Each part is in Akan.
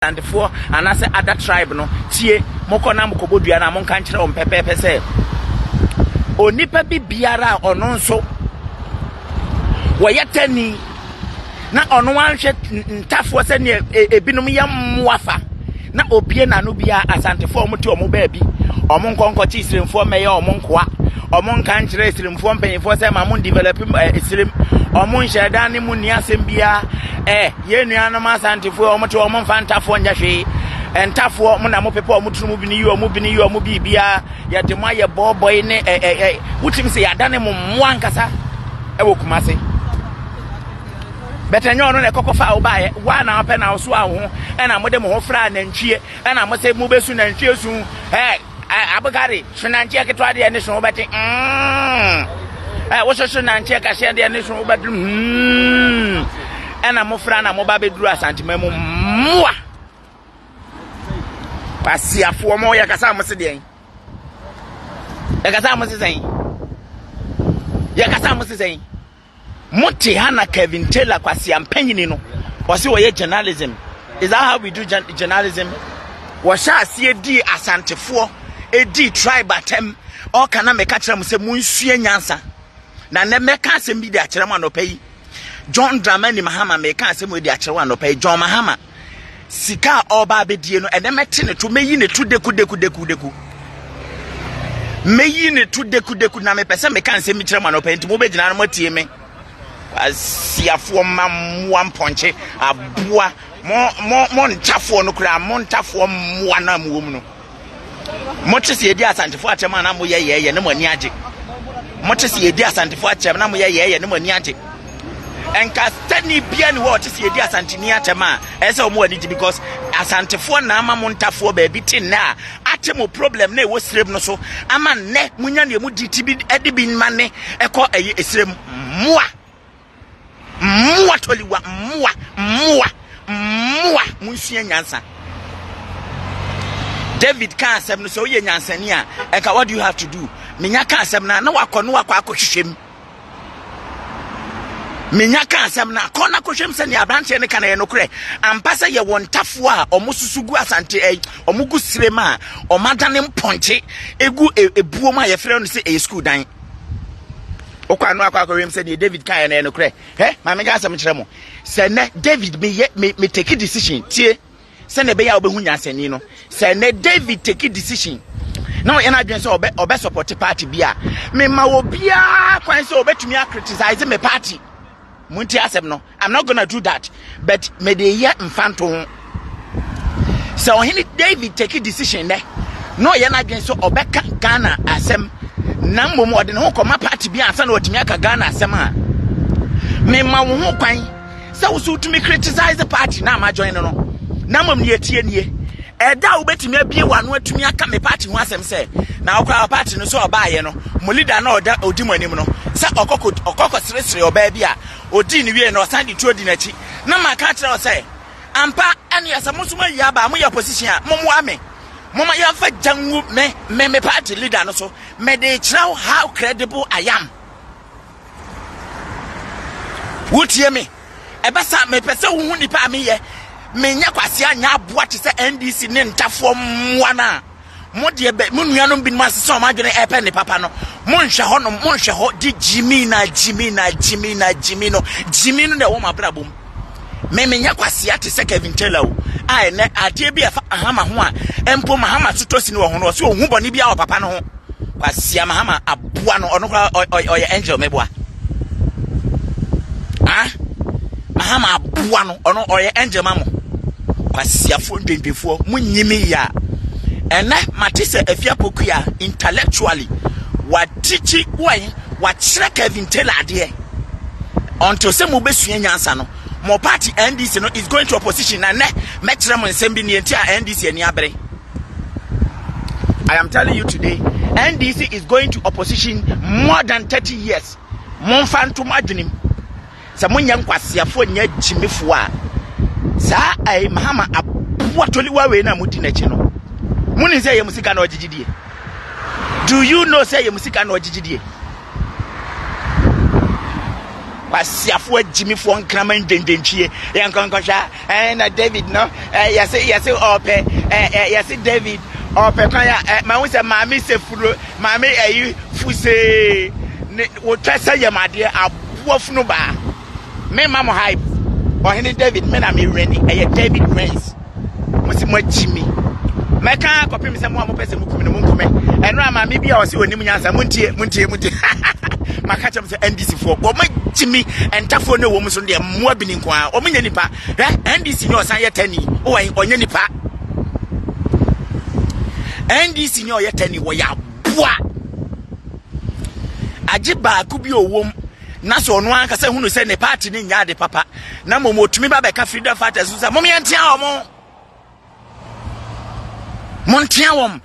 Asantefoɔ anaasɛ other tribe no tie, mokɔ na mokɔbɔ dua no a, monka nkyerɛ wɔn pɛpɛɛpɛ sɛ, onipa bi biara a ɔno nso wɔyɛ tani na ɔno anhwɛ ntafoɔ sɛdeɛ e, ebinom yɛ mmoa fa na obie n'ano biara asantefoɔ a wɔte wɔn baabi wɔn nkɔnkɔkye sirimfoɔ mmɛyɛ wɔn nkoa wɔn nka nkyerɛ sirimfoɔ mpanyinfoɔ sɛ ma mo develop eh, sirim wɔn nhyɛ dan ne mu nni asɛm biara ɛɛ. Eh, Yɛn nuanom Asantefoɔ yi, wɔte wɔn mfa ntafoɔ nyɛ hwee. Ntafoɔ, mo na mopepa wɔn tiri mu bini yi wɔn bini yi wɔn biribiara. Yɛde mo ayɛ bɔɔbɔe ne ɛ ɛ ɛ. Wotumi sɛ yɛadane mo mmoa ankasa wɔ Kumase. Bɛtɛ nyɛ ɔno na ɛkɔkɔ fa a wobaeɛ. Woa na wopɛ na wosoa wo ho ɛna mode mo ho fra nantwie ɛna mo sɛ mobɛsu nantwie su. Hey! Eh abogare so nanteɛ ketewa deɛ ne so wobɛte mm. eh, woso so nanteɛ kaseɛ deɛ ne so wobɛte mm. ɛna mofra na moba bɛduru asantema mu mmoa kwasiafoɔ mo yɛkasa mo se deɛn yɛkasa mo se sɛn yɛkasa mo se sɛn Mo te ha na Kevin Taylor kwasia mpanyini no ɔse ɔyɛ journalism is that how we do journalism wɔhyɛ aseɛ dii asantefoɔ ɛdii tribe atɛm ɔka na meka kyerɛ mo sɛ monsua nyansa na nɛ mɛka asɛm bi de akyerɛ mo anɔpa yi John Dramani Mahama meka asɛm ɛdi akyerɛ wo anɔpa yi John Mahama Sika a ɔreba abɛdie no, ɛnɛ mɛte ne to, mɛyi ne to dekudekudekudeku. Mɛyi ne to dekudeku na mepɛ sɛ meka nsɛm bi kyerɛ mo anɔpa nti mobɛgyina no moatie me. Asiafoɔ ma mmoa mpɔnkye aboa mo mo mo ntafoɔ no koraa mo ntafoɔ mmoa no a mowɔ mu no. mote sɛ yɛdi asantefoɔ akyɛm a na moyɛ yɛɛyɛ na mo ani agye mote sɛ yɛdi asantefoɔ akyɛm na moyɛ yɛɛyɛ na mo ani agye nkastani bia ne hɔ ɔte sɛ yɛdi asanteni akyɛm a ɛsɛ sɛ ɔmo ani gye because asantefoɔ na ama mo ntafoɔ baabi te nnɛ a ate mo problem na ɛwɔ sirem no so ama nnɛ monya ne ɛmu di ti bi de bi ma ne ɛkɔ ɛyɛ sirem mmoa Mmoa tɔliwa, mmoa, mmoa, mmoa, monsua nyansa. David kaa asɛm no sɛ woyɛ nyansani a ɛka what do you have to do? Menya kaa asɛm no a na wakɔ no wakɔ akɔhwehwɛ mu. menya ka asɛm no akɔ no akɔhwɛm sɛ nea aberanteɛ no ka no yɛ nokorɛ ampa sɛ yɛwɔ ntafoɔ a ɔmo susu gu asante ɛ ɔmo gu sire ma a ɔmo adane mpɔnkye egu ebuom a yɛfrɛ no sɛ ɛyɛ sukuu dan wokɔ ano akɔ akɔwem sɛ deɛ david kaeɛ no yɛ nokorɛ hɛ ma menka asɛm kyerɛ mo sɛ nnɛ david meyɛ me me take decision tie sɛnea ɛbɛyɛ a wobɛhu nyansani no sɛ nnɛ david take decision na ɔyɛ no adwene sɛ ɔbɛ ɔbɛ support party bi a mema obiara kwan sɛ ɔbɛtumi a criticize me party Montie asɛm no. I'm not gonna do that. But me de yɛ mfanto ho. Sɛ ɔhene David take decision nɛ na ɔyɛ n'adwene sɛ ɔbɛka Ghana asɛm na mmom ɔde ne ho kɔma party bi ansa na watumi aka Ghana asɛm a mema wo ho kwan sɛ wo so wotumi criticize party na ama join no no na mmom ne yɛtie nie Ɛda a wobɛtumi abie w'ano atumi aka me party ho asɛm sɛ, na wo koraa party no sɛ ɔbaeɛ no, mo leader no a ɔdi mo anim no, sɛ ɔkɔkɔ seresere ɔbaa bi a, ɔdii no wieɛ no ɔsan de tuo di n'akyi, na maka akyerɛ wo sɛ, ampa, ɛneɛ sɛ mo nso moawie aba a, moyɛ opposition a, mommoa me. Momma yɛmfa gya ngu me, me me party leader no so, mede rekyerɛ wo how credible I am. Wotie me? Ɛbɛsa. Mepɛ sɛ wohu nipa a meyɛ. Menyɛ kwasea nyɛ aboa te sɛ NDC ne ntafoɔ mmoa no a mo deɛ mo nuanom binom asesa wɔn adwene ɛrepɛ ne papa no. Monhwɛ hɔ nom, monhwɛ hɔ de gyimi na gyimi na gyimi na gyimi no gyimi no na ɛwɔ mo abrabɔ mu. Me menyɛ kwasea te sɛ Kevin Taylor o. A ɛnɛ adeɛ bi a ɛfa Mahama ho a mpo Mahama so tɔ sini wɔ ho no ɔsɛ ɔhu bɔne biara wɔ papa no ho. Kwasea Mahama aboa no ɔno koraa ɔyɛ angel mɛboa. Ah Mahama aboa no ɔno ɔyɛ angel ma mo. Kwasiafoɔ ndwendefoɔ mo nyimi ya. Ɛnɛ mate sɛ Afiapokua intellectually watikyi wɔn Wakyerɛ Kevin Taylor adeɛ until sɛ mo bɛsua nyansa no mo party NDC no is going to opposition na nɛ mɛkyerɛ mo nsɛm bi neɛnti a NDC ani abere I am telling you today NDC is going to opposition more than 30 years momfa ntom adwenem sɛ mo nyɛ nkwaseafoɔ nyɛ agyimifoɔ a saa ɛɛ mahama aboa toliwa wei na mo di n'akyi no mo nim sɛ ɛyɛ mo sika na ɔgyegye die do you know sɛ ɛyɛ mo sika na ɔgyegye die kwasiafoɔ agyimifoɔ nkraman dwendwentwie yɛn nkɔnkɔhwɛ a Ɛɛ na David no ɛɛ yɛse yɛse ɔɔpɛ ɛɛ yɛse David ɔɔpɛ kwan a ɛɛ mahu sɛ maame sɛ furo maame ɛyi fusee ne wotwa sɛ yɛm adeɛ aboa funu baa me ma mo hype ɔhene David me na me wɛni ɛyɛ David wins mo se mo akyi mi mɛka kɔpem sɛ mo a mopɛ sɛ mo kum no mo nkume ɛno a maame bi a ɔse onim nyansa mo ntie mo ntie mo ntie maka kyɛm NDC foɔ wɔn agyi mi ntafoɔ ne wɔn so deɛ mmoa bini nko ara wɔn nyɛ nipa hɛ NDC nyɛ ɔsan yɛ tani wɔn ɔnyɛ nipa NDC nyɛ ɔyɛ tani wɔyɛ aboa agye baako bi owom na sɛ ɔno ankasa hunu sɛ ne paati ne nyɛ ade papa na mmom otumi ba bɛka freedom fighters so sɛ mom yɛntea wɔn Montea wɔn.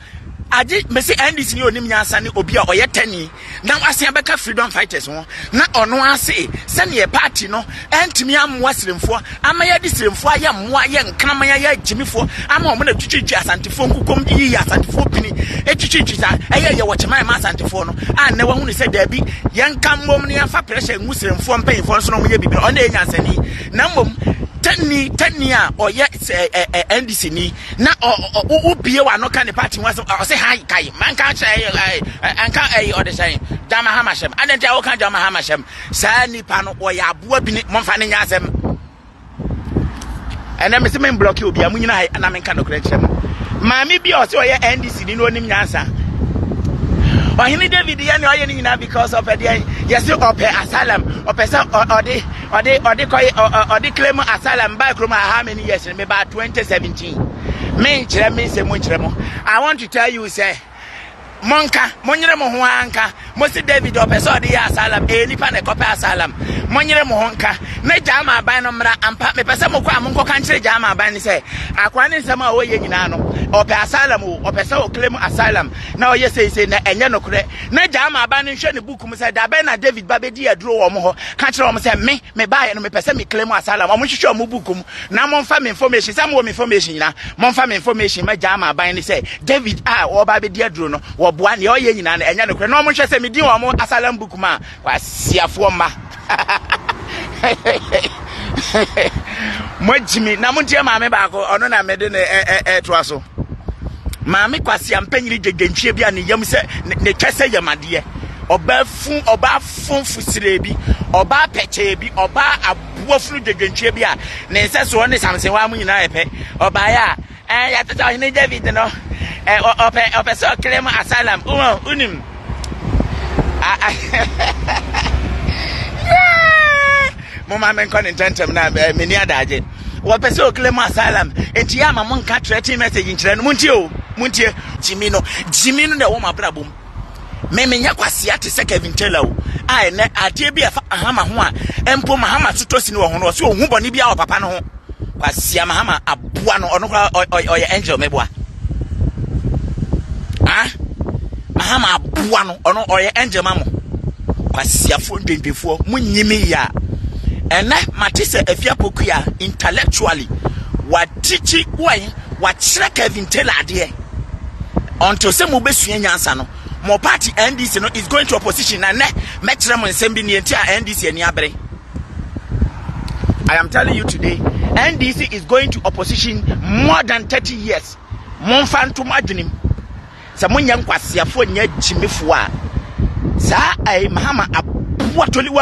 Agye mesi NDC ni onim nyansa ne obi a ɔyɛ tani na wasen abɛka freedom fighters ho na ɔno ase sɛnea party no ɛntumi amoa siremfoɔ ama yɛde siremfoɔ ayɛ mmoa yɛ nkraman ayɛ agyimifoɔ ama wɔn na twitwitwi asantefoɔ nkukom de yiyi asantefoɔ pini twitwitwi saa ɛyɛ yɛ wɔ kyeman ma asantefoɔ no a nnɛ wahu ne sɛ daabi yɛnka mmom ne yɛmfa pressure ngu siremfoɔ mpanyinfoɔ nso na wɔyɛ biribi ɔno yɛ nyansani na mmom tani tani a ɔyɛ sɛ ɛ ɛ ɛ ndc ni na ɔ ɔ wo wo bie wa no ka ne party ho asɛm ɔ ɔsɛ han kai man ka kyerɛ ɛ ɛ ɛ anka ɛ ɔde sɛn John Mahama hyɛm adɛn nti a woka John Mahama hyɛm saa nipa no ɔyɛ aboa bi ne momfa ne nyɛ asɛm ɛnɛ mese me mblɔke obi a mo nyina ha na menka nɔkorɛ nkyerɛ mo maame bi a ɔsɛ ɔyɛ ndc ni na ɔnim nyansa ɔhene David yɛ ne ɔyɛ ne nyinaa because ɔpɛ deɛ yɛse ɔpɛ asylum ɔpɛ sɛ ɔ ɔde Ɔde ɔde kɔ ɔ ɔ ɔde claim asylum baa kurom ha how many years no me baa 2017 me nkyerɛ me nsɛm mu nkyerɛ mo I want to tell you sɛ mo nka mo nyere mo ho ara nka mo se David ɔpɛ sɛ ɔde yɛ asylum ɛyɛ nipa na ɛkɔpɛ asylum mo nyere mo ho nka na gyaa ma aban no mmra ampa mepɛ sɛ mokɔ a mo nkɔka nkyerɛ gyaa ma aban no sɛ akoa ne nsɛm a ɔyɛ nyinaa no ɔpɛ asylum o ɔpɛ sɛ ɔclaim asylum na ɔyɛ seisei na ɛnyɛ nokorɛ na gyaa ma aban no nhwɛ ne book Kum sɛ, Da bɛn na David ba bɛdii aduro wɔ wɔn hɔ, ka kyerɛ wɔn sɛ, Me, me baeɛ no, mepɛ sɛ me claim asylum, wɔn nhwehwɛ wɔn book mu, na monfa me information, sɛ mowɔ me information nyinaa, monfa me information ma Gyama aban no sɛ, David a ɔreba abɛdi aduro no, wɔboa, deɛ ɔyɛ nyinaa no, ɛnyɛ nokorɛ, na wɔn nhwɛ sɛ medin wɔ wɔn asylum book mu a, Kwasiafoɔ mma. moagyimi na monteɛ maame baako ɔno na mede ne ɛtoa so maame kwase ampanyini gyegyenhwie bi a ne yam sɛ ne twɛ sɛ yamadeɛ ɔbaa fun ɔbaa funfo sire bi ɔbaa pɛkyɛɛ bi ɔbaa aboafunu gyegyenhwie bi a ne nsɛsoɔ ne samsenwa mu nyinaa yɛ pɛ ɔbaeɛ a Ɛɛ, yɛatoto Ɔhene David no. Ɛɛ, ɔ, ɔpɛ, ɔpɛ sɛ ɔclaim asylum. Wowɔ, wonim. A, a, yeah! Momma menkɔ ne ntɛmntɛm na ɛ, menni adagye. Wɔpɛ sɛ ɔclaim asylum. Enti yɛ ama monka threatening message nkyerɛ no. Montie o, montie. Gyimi no, gyimi no na ɛwɔ mo abrabɔ mu. Me menyɛ kwasea te sɛ Kevin Taylor o, a ɛnnɛ adeɛ bi a ɛfa Mahama ho a mpo Mahama so tɔ sini wɔ ho no ɔse ɔhu bɔne biara wɔ papa no ho. Kwasea Mahama aboa no ɔno koraa ɔyɛ angel mɛboa. Ah, Mahama aboa no ɔno ɔyɛ angel ma mo. Kwasiafoɔ ndwendefoɔ mo nyimi ya. Ɛnɛ mate sɛ Afia Pokuya intellectually watikyi wɔn Wakyerɛ Kevin Taylor adeɛ until sɛ mo bɛsua nyansa no mo party NDC no is going to opposition na nɛ mɛkyerɛ mo nsɛm bi neɛnti a NDC ani abere I am telling you today NDC is going to opposition more than 30 years momfa nto mo adwenem sɛ monyɛ nkwaseafoɔ nyɛ gyimifoɔ a saa ɛyi mahama aboa toliwa